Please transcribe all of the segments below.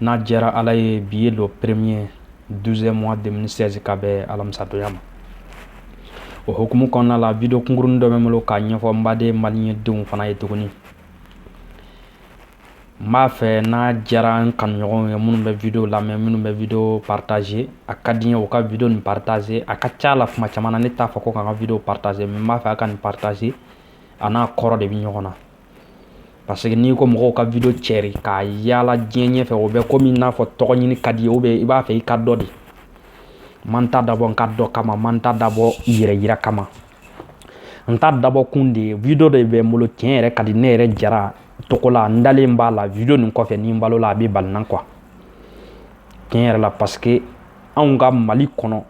n'a jɛra ala ye bi ye le premier douzième mois deux mille seize ka bɛn alamisadonya ma o hukumu kɔnɔna la video kunkurunin dɔ bɛ n bolo k'a ɲɛfɔ n baden maliyɛndenw fana ye tuguni n b'a fɛ n'a jɛra n kanuɲɔgɔnw ye minnu bɛ video lamɛn minnu bɛ video partager a ka di n ye u ka video nin partager a ka ca la kuma caman na ne t'a fɔ ko k'an ka video partager n b'a fɛ a ka nin partager a n'a kɔrɔ de bɛ ɲɔgɔn na Parce que n'i ko mɔgɔw ka video cɛri k'a yaala diɲɛ ɲɛ fɛ o bɛ komi n'a fɔ tɔgɔ ɲini ka di i ye oubien i b'a fɛ i ka dɔn ne ma n ta dabɔ n ka dɔn kama ma n ta dabɔ yɛrɛ yira kama n ta dabɔ kun de ye video de bɛ n bolo tiɲɛ yɛrɛ ka di ne yɛrɛ jara tɔgɔ la n dalen b'a la video nin kɔfɛ ni n balola a bɛ bali n na quoi tiɲɛ yɛrɛ la parce que anw ka mali kɔnɔ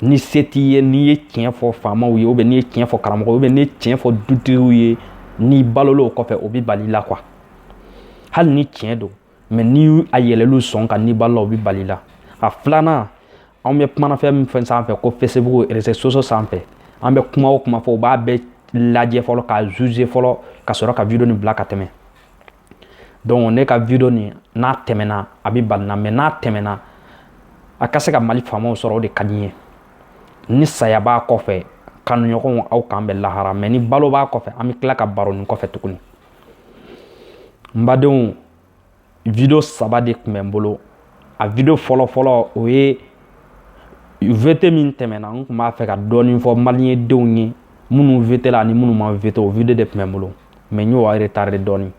ni se t'i ye n'i ye tiɲɛ fɔ faamaw ye oubien n'i ye tiɲɛ fɔ karamɔgɔw ye oubien n'i ye tiɲɛ fɔ dutigiw ye n'i balol'o kɔfɛ o bɛ bali la quoi hali ni tiɲɛ don mais ni a yɛlɛla u sɔn kan n'i balola o bɛ bali la a filanan anw bɛ kumana fɛn min fɛn sanfɛ ko facebook réseaux sociaux sanfɛ an bɛ kuma o kuma fɔ u b'a bɛɛ lajɛ fɔlɔ k'a juger fɔlɔ ka sɔrɔ ka video nin bila ka tɛmɛ donc ne ka video nin n'a tɛmɛna a bɛ bali n na mais n'a tɛmɛna a ka se ka mali faamaw sɔrɔ o de ka di n ye ni saya b'a kɔfɛ kanuɲɔgɔnw aw k'an bɛn lahara mais ni balo b'a kɔfɛ an bɛ tila ka baro nin kɔfɛ tuguni n badenw video saba de tun bɛ n bolo a video fɔlɔfɔlɔ o ye vote min tɛmɛna n tun b'a fɛ ka dɔɔnin fɔ maliyɛndenw ye minnu vote la ani minnu ma vote o video de tun bɛ n bolo mais n y'o retardé dɔɔnin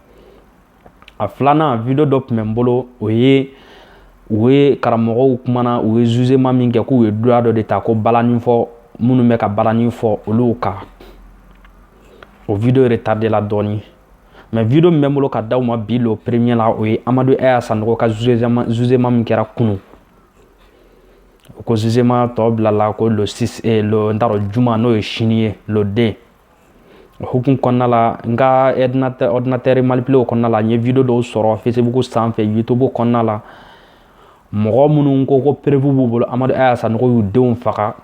a filanan video dɔ tun bɛ n bolo o ye u ye karamɔgɔw kumana u ye jugement min kɛ k'u ye droit dɔ de ta ko balanin fɔ minnu bɛ ka balanin fɔ olu kan o video retardé la dɔɔnin mais video min bɛ n bolo ka d'aw ma bi le premier la o ye amadu aya sanogo ka jugement min kɛra kunun ko jugement tɔ bilala ko n t'a dɔn juma n'o ye sini ye le deux o hukumu kɔnɔna la n ka ordinateur manipuler kɔnɔna la n ye video dɔw sɔrɔ facebook sanfɛ youtube kɔnɔna la mɔgɔ minnu ko ko preuve b'u bolo amadu aya sanogo y'u denw faga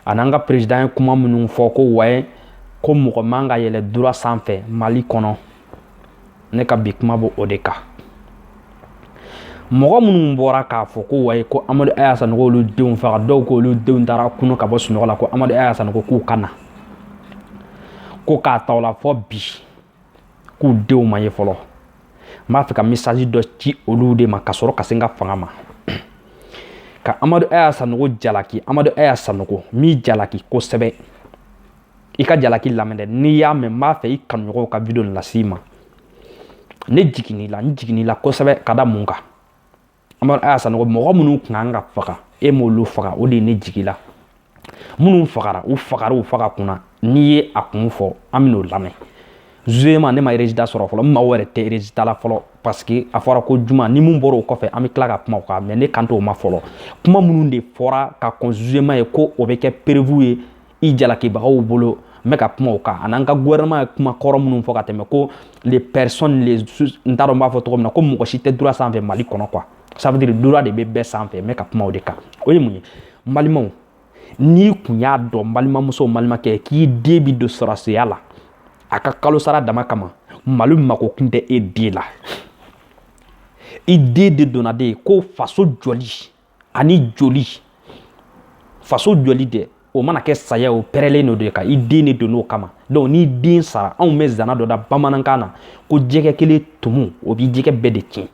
an'an ka perezidan ye kuma minnu fɔ ko waye ko mɔgɔ man ka yɛlɛ droit sanfɛ mali kɔnɔ ne ka bi kuma b'o de kan mɔgɔ minnu bɔra k'a fɔ ko wayi ko amadu aya sanogo olu denw faga dɔw ko olu denw taara kunu ka bɔ sunɔgɔ la ko amadu aya sanogo k'u ka na ko k'a ta o la fɔ bi k'u denw ma ye fɔlɔ n b'a fɛ ka message dɔ ci olu de ma ka sɔrɔ ka se n ka fanga ma ka amadu aya sanogo jalaki amadu aya sanogo n b'i jalaki kosɛbɛ i ka jalaki lamɛn dɛ n'i y'a mɛn n b'a fɛ i kanuɲɔgɔnw ka video nin las'i ma ne jigin'i la n jigin'i la kosɛbɛ ka da mun kan amadu aya sanogo mɔgɔ minnu kun kan ka faga e m'olu faga o de ye ne jigi la minnu fagara u fagara u faga kun na n'i ye a kun fɔ an bɛn'o lamɛn jugement ne ma résultat sɔrɔ fɔlɔ n mago yɛrɛ tɛ résultat la fɔlɔ parce que a fɔra ko juma ni min bɔra o kɔfɛ an bɛ tila ka kuma o kan mais ne kan t'o ma fɔlɔ kuma minnu de fɔra ka kɔn jugement ye ko o bɛ kɛ preuve ye i jalakibagaw bolo n bɛ ka kuma o kan an'an ka gouvernement ye kuma kɔrɔ minnu fɔ ka tɛmɛ ko les personnes les n t'a dɔn n b'a fɔ cogo min na ko mɔgɔ si tɛ droit sanfɛ mali kɔnɔ quoi ça veut dire droit de bɛ bɛɛ sanfɛ n bɛ ka kuma o de kan o ye mun ye n balimaw n'i kun y'a dɔn n balimamuso n balimakɛ k'i den bi don sɔrɔsiya la a ka kalo sara dama kama mali mako kun tɛ e den la i den de donna de ko faso jɔli ani joli faso joli dɛ o mana kɛ saya o pɛrɛlen don de ka i den de don o kama donc n'i den sara anw bɛ zana dɔ da bamanankan na ko jɛgɛ kelen tumu o bi jɛgɛ bɛɛ de tiɲɛ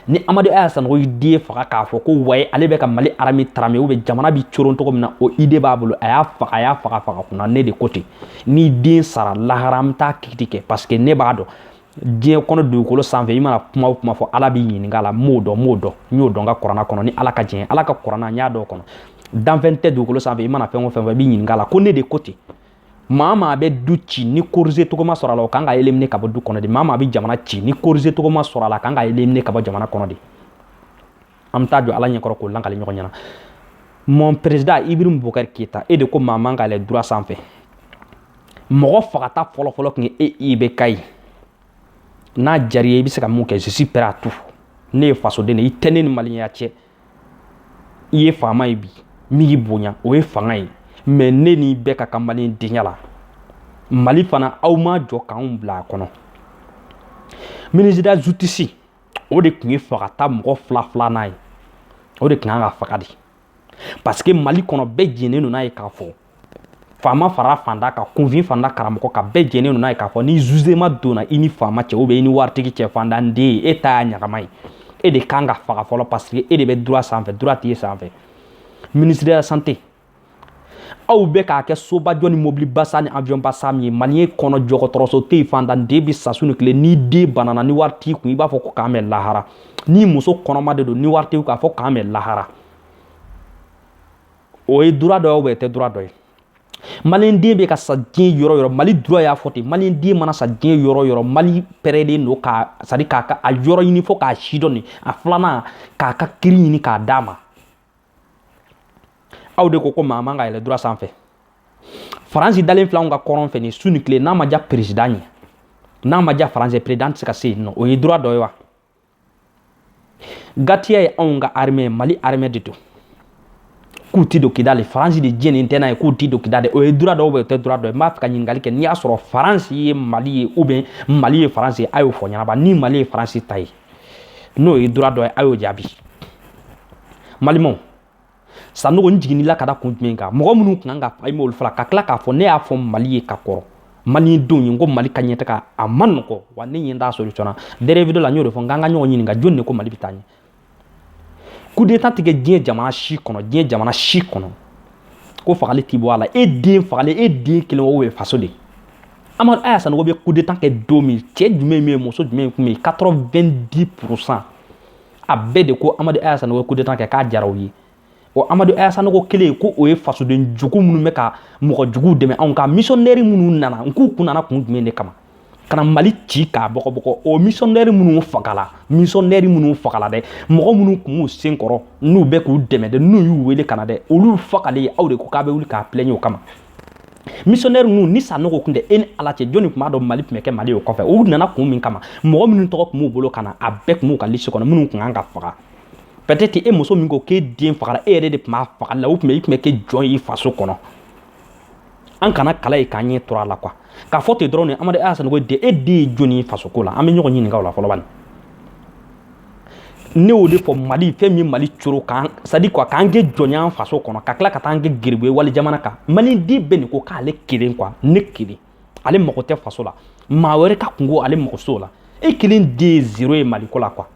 ni amadu aya sanogo y'i den faga k'a fɔ ko waye ale bɛ ka mali armée tarame ou bien jamana bi coron cogo min na o idée b'a bolo a y'a faga a y'a faga faga kun na ne de ko ten n'i den sara lahara an bɛ taa kiiti kɛ parce que ne b'a dɔn diɲɛ kɔnɔ dugukolo sanfɛ i mana kuma o kuma fɔ ala b'i ɲininka la m'o dɔn m'o dɔn n y'o dɔn ka kuranna kɔnɔ ni ala ka diɲɛ ala ka kuranna n y'a dɔn kɔnɔ danfɛn tɛ dugukolo sanfɛ i mana fɛn o fɛn fɔ i b'i ɲininka la ko ne de ko ten maa maa bɛ du ci ni corriger cogo ma sɔrɔ a la o kan ka éliminer ka bɔ du kɔnɔ de maa maa bɛ jamana ci ni corriger cogo ma sɔrɔ a la kan ka éliminer ka bɔ jamana kɔnɔ de an bɛ taa jɔ ala ɲɛkɔrɔ k'o lakali ɲɔgɔn ɲɛna mon président ibrahim boubacar keïta e de ko maa man ka yɛlɛ droit sanfɛ mɔgɔ fagata fɔlɔfɔlɔ tun ye e ibk ye n'a diyar'i ye i bɛ se ka mun kɛ je suis prêt à tout ne ye fasoden de ye i tɛ ne ni maliyɛnya cɛ i ye faama ye bi min y'i bonya o ye fanga ye mais ne ni bɛɛ ka kan mali denya la mali fana aw ma jɔ k'anw bila a kɔnɔ ministre de la justice o de tun ye fagata mɔgɔ fila filanan ye o de tun kan ka faga de parce que mali kɔnɔ bɛɛ jɛnnen don n'a ye k'a fɔ faama fara fantan kan kunfin fanda karamɔgɔ kan bɛɛ jɛnnen don n'a ye k'a fɔ ni jugement donna i ni faama cɛ ou bien i ni waritigi cɛ fantanden ye e ta y'a ɲagama ye e de kan ka faga fɔlɔ parce que e de bɛ droit sanfɛ droit tɛ e sanfɛ ministre de la santé aw bɛ k'a kɛ sobajɔ ni mobilibasan ni avionbasan min ye mali kɔnɔ dɔgɔtɔrɔso tɛ yen fantan den bɛ sa su ni tile n'i den banana ni wari t'i kun i b'a fɔ ko k'an bɛn lahara n'i muso kɔnɔma de don ni wari t'i kun k'a fɔ k'an bɛn lahara o ye droit dɔ ye ou bien o tɛ droit dɔ ye maliden bɛ ka sa diɲɛ yɔrɔ yɔrɔ mali droit y'a fɔ ten maliden mana sa diɲɛ yɔrɔ yɔrɔ mali pɛrɛlen don k'a c'est à dire k'a ka a yɔrɔ ɲini fo k'a sidɔn nin a filanan k'a ka kiiri ɲini k'a d'a ma aw de ko ko maa man ka yɛlɛ droit sanfɛ faransi dalen filɛ anw ka kɔrɔn fɛ nin su ni tile n'a ma diya perezidan ye n'a ma diya faransi ye perezidan tɛ se ka se yen nɔ o ye droit dɔ ye wa gatiya ye anw ka armée mali armée de don k'u ti don kidali faransi de diɲɛnen tɛ n'a ye k'u ti don kidali o ye droit dɔ ou bien o tɛ droit dɔ ye n b'a fɛ ka ɲininkali kɛ n'i y'a sɔrɔ faransi ye mali ye ou bien mali ye faransi ye a y'o fɔ ɲɛnabɔ ni mali ye faransi ta ye n'o ye droit dɔ ye a y'o jaabi malimaw sanogo n jiginnila ka da kun jumɛn kan mɔgɔ minnu kun kan ka faga olu fagara ka tila k'a fɔ ne y'a fɔ mali ye ka kɔrɔ malidenw ye n ko mali ka ɲɛtaga a ma nɔgɔ wa ne ɲɛ t'a solution na dernier video la n y'o de fɔ n k'an ka ɲɔgɔn ɲininka jɔnni de ko mali bɛ taa ɲɛ kudeta tɛ kɛ diɲɛ jamana si kɔnɔ diɲɛ jamana si kɔnɔ ko fagali t'i bɔ a la e den fagalen e den kelen o ye faso de ye amadu aya sanogo bɛ kudeta kɛ don min cɛ jumɛn bɛ yen muso jumɛn kun bɛ yen 90 pourcent a bɛɛ de ko amadu aya sanogo ye kudeta kɛ k'a diyara u ye o amadu aya sanogo kelen ko o ye fasoden jugu minnu bɛ ka mɔgɔ juguw dɛmɛ anw ka misɔnnɛri minnu nana n k'u kun nana kun jumɛn de kama ka na mali ci k'a bɔgɔbɔgɔ o misɔnnɛri minnu fagala misɔnnɛri minnu fagala dɛ mɔgɔ minnu kun b'u sen kɔrɔ n'u bɛ k'u dɛmɛ dɛ n'u y'u wele ka na dɛ olu fagalen aw de ko k'a bɛ wuli k'a pilɛɲɛ o kama missionnaire ninnu ni sanogo tun tɛ e ni ala cɛ jɔnni tun b'a dɔn mali tun bɛ kɛ mali o kɔfɛ u nana kun min kama mɔgɔ minnu tɔgɔ tun b'u bolo ka na a bɛɛ tun b'u ka lisi kɔnɔ minnu tun kan ka faga peut-être e muso min ko k'e den fagara e yɛrɛ de tun b'a fagali la u tun bɛ i tun bɛ kɛ jɔn ye i faso kɔnɔ an kana kala ye k'an ɲɛ turu a la quoi k'a fɔ ten dɔrɔn de amadu aya sanogo de e den ye jɔnni ye fasoko la an bɛ ɲɔgɔn ɲininka o la fɔlɔ bani ne y'o de fɔ mali fɛn min mali coro k'an c'est-à-dire quoi k'an kɛ jɔn ye an faso kɔnɔ ka tila ka taa an kɛ geribu ye wali jamana kan maliden bɛɛ nin ko k'ale kelen quoi ne kelen ale mago tɛ faso la maa wɛrɛ ka kungo ale mago t'o la e kelen den ye zero ye maliko la quoi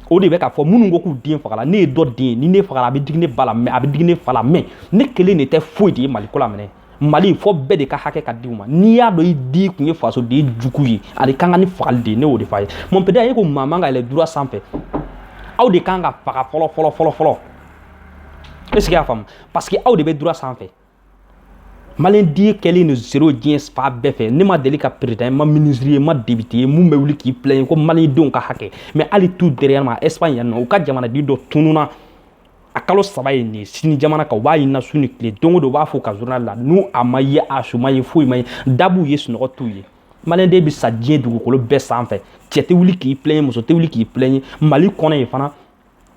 o de bɛ k'a fɔ minnu ko k'u den fagala ne ye dɔ den ye ni ne fagala a bɛ digi ne ba la mais a bɛ digi ne fa la mais ne kelen de tɛ foyi de ye maliko la minɛ mali fɔ bɛɛ de ka hakɛ ka di u ma n'i y'a dɔn i den kun ye fasoden jugu ye ale ka kan ni fagali de ye ne y'o de fɔ a ye mon père a ye ko maa man ka yɛlɛ droit sanfɛ aw de kan ka faga fɔlɔ fɔlɔ fɔlɔ fɔlɔ est ce que y'a faamu parce que aw de bɛ droit sanfɛ maliyɛnden kɛlen don zero diɲɛ fan bɛɛ fɛ ne ma deli ka perezidan ye ma minisiri ye ma depite ye min bɛ wuli k'i pilɛɲe ko malidenw ka hakɛ mais hali tout dernièrement espagne yan nɔ u ka jamanaden dɔ tununa a kalo saba ye nin ye sini jamana kan u b'a ɲinina su ni tile don o don u b'a fɔ u ka journal la n'u a ma ye a su ma ye foyi ma ye dabuw ye sunɔgɔ t'u ye maliyɛnden bɛ sa diɲɛ dugukolo bɛɛ sanfɛ cɛ tɛ wuli k'i plɛɲe muso tɛ wuli k'i plɛɲe mali kɔnɔ yen fana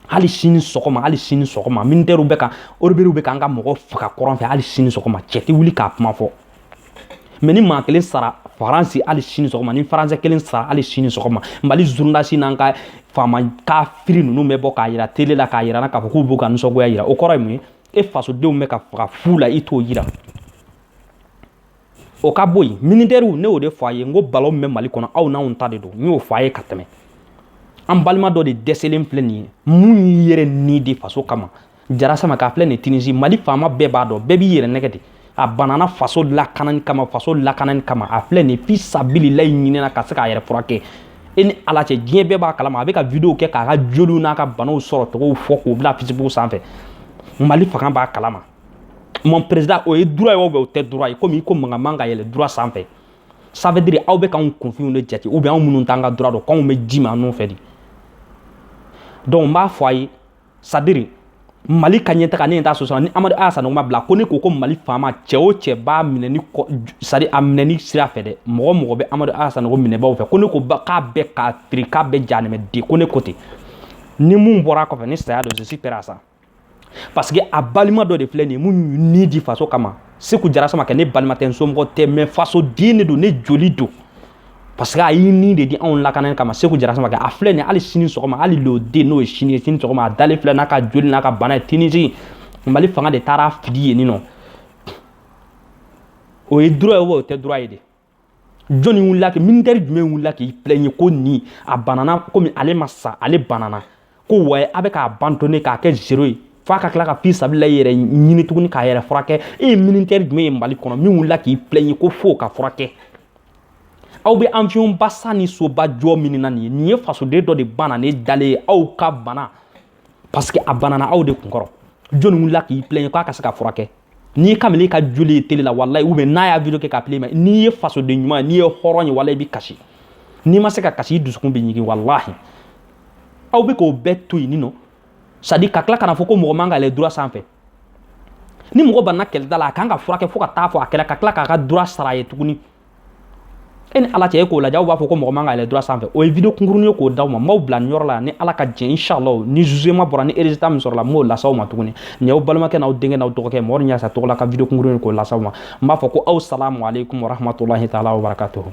hali sini sɔgɔma hali sini sɔgɔma minitɛriw bɛ ka rebɛliw bɛ k'an ka mɔgɔ faga kɔrɔn fɛ hali sini sɔgɔma cɛ tɛ wuli k'a kuma fɔ mais ni maa kelen sara faransi hali sini sɔgɔma ni faransɛ kelen sara hali sini sɔgɔma mali journalistes n'an ka faama kafiri ninnu bɛ bɔ k'a yira tele la k'a yira na k'a fɔ k'u b'u ka nisɔngoya yira o kɔrɔ ye mun ye e fasodenw bɛ ka faga fu la i t'o yira o ka bɔ yen militɛriw ne y'o de fɔ a ye n ko balon min bɛ mali kɔnɔ aw n'anw ta de don n y'o fɔ a ye ka tɛmɛ an balima dɔ de dɛsɛlen filɛ nin ye mun y'i yɛrɛ ni di faso kama jara samakɛ a filɛ nin tinizi mali faama bɛɛ b'a dɔn bɛɛ b'i yɛrɛ nɛgɛn de a banana faso lakanani kama faso lakanani kama a filɛ nin fi sabililayi ɲini na ka se k'a yɛrɛ furakɛ e ni ala cɛ diɲɛ bɛɛ b'a kalama a bɛ ka video kɛ k'a ka joliw n'a ka banaw sɔrɔcogow fɔ k'o bila facebook sanfɛ mali fanga b'a kalama mon président o ye droit ye ou bien o tɛ droit ye komi i ko mankan man ka yɛlɛ droit sanfɛ ça veut dire aw bɛ k'anw kunfinw de jate ou bien anw minnu t'an ka droit dɔn k'anw bɛ ji ma anw fɛ de donc n b'a fɔ a ye c'est-à-dire mali ka ɲɛtaga ne t'a sɔsɔ ni amadu aya sanɔgɔ ma bila ko ne ko ko mali faama cɛ o cɛ b'a minɛni c'est-à-dire a minɛni sira fɛ dɛ mɔgɔ mɔgɔ bɛ amadu aya sanɔgɔ minɛbaw fɛ ko ne ko k'a bɛɛ kafiri k'a bɛɛ jahanama de ko ne ko ten ni mun bɔra kɔfɛ ni saya don je suis prêt à ça parce que a balima dɔ de filɛ nin ye mun ni di faso kama seku jara samakɛ ne balima tɛ n somɔgɔ tɛ mais fasoden de don ne joli don parce que a y'i ni de di anw lakanani kama seku jara samakɛ a filɛ nin hali sini sɔgɔma hali lundi n'o ye sini ye sini sɔgɔma a dalen filɛ n'a ka joli n'a ka bana ye tinizi mali fanga de taara fili yenninɔ o ye droit ye o tɛ droit ye de jɔnni wulila kɛ militɛri jumɛn wulila k'i plɛɲe ko nin a banana komi ale ma sa ale banana ko ouais a bɛ k'a abandonner k'a kɛ zero ye f'a ka tila ka fi sabilayi yɛrɛ ɲini tuguni k'a yɛrɛ furakɛ e ye militɛri jumɛn ye mali kɔnɔ min wulila k'i plɛɲe ko fo ka furakɛ aw bɛ avionba san ni soba jɔ min na nin ye nin ye fasoden dɔ de bananen dalen ye aw ka bana parce que a banana aw de kunkɔrɔ jɔni wulila k'i plɛɲe k'a ka se ka furakɛ n'i ye kamalen ka joli ye tele la walayi ou bien n'a y'a video kɛ k'a filmer n'i ye fasoden ɲuman n'i ye hɔrɔn ye walayi i bi kasi n'i ma se ka kasi i dusukun bɛ ɲigin walahi aw bɛ k'o bɛɛ to yenninɔ c'est-à-dire ka tila ka n'a fɔ ko mɔgɔ man ka yɛlɛ droit sanfɛ ni mɔgɔ banna kɛlɛda la a kan ka furakɛ fo ka taa fo a kɛnɛya ka tila k'a ka droit sara a ye tuguni e ni ala cɛ e k'o lajɛ aw b'a fɔ ko mɔgɔ man ka yɛlɛ droit sanfɛ o ye video kunkuruni ye k'o d'aw ma n b'aw bila nin yɔrɔ la ni ala ka jɛn inshallah ni jugement bɔra ni résultat min sɔrɔla n b'o las'aw ma tuguni nin y'aw balimakɛ n'aw denkɛ n'aw dɔgɔkɛ mɔgɔ ni yasa tɔgɔ la ka video kunkuruni k'o las'aw ma n b'a fɔ ko aw salamu aleykum warahmatulahi taala wabarakatuhu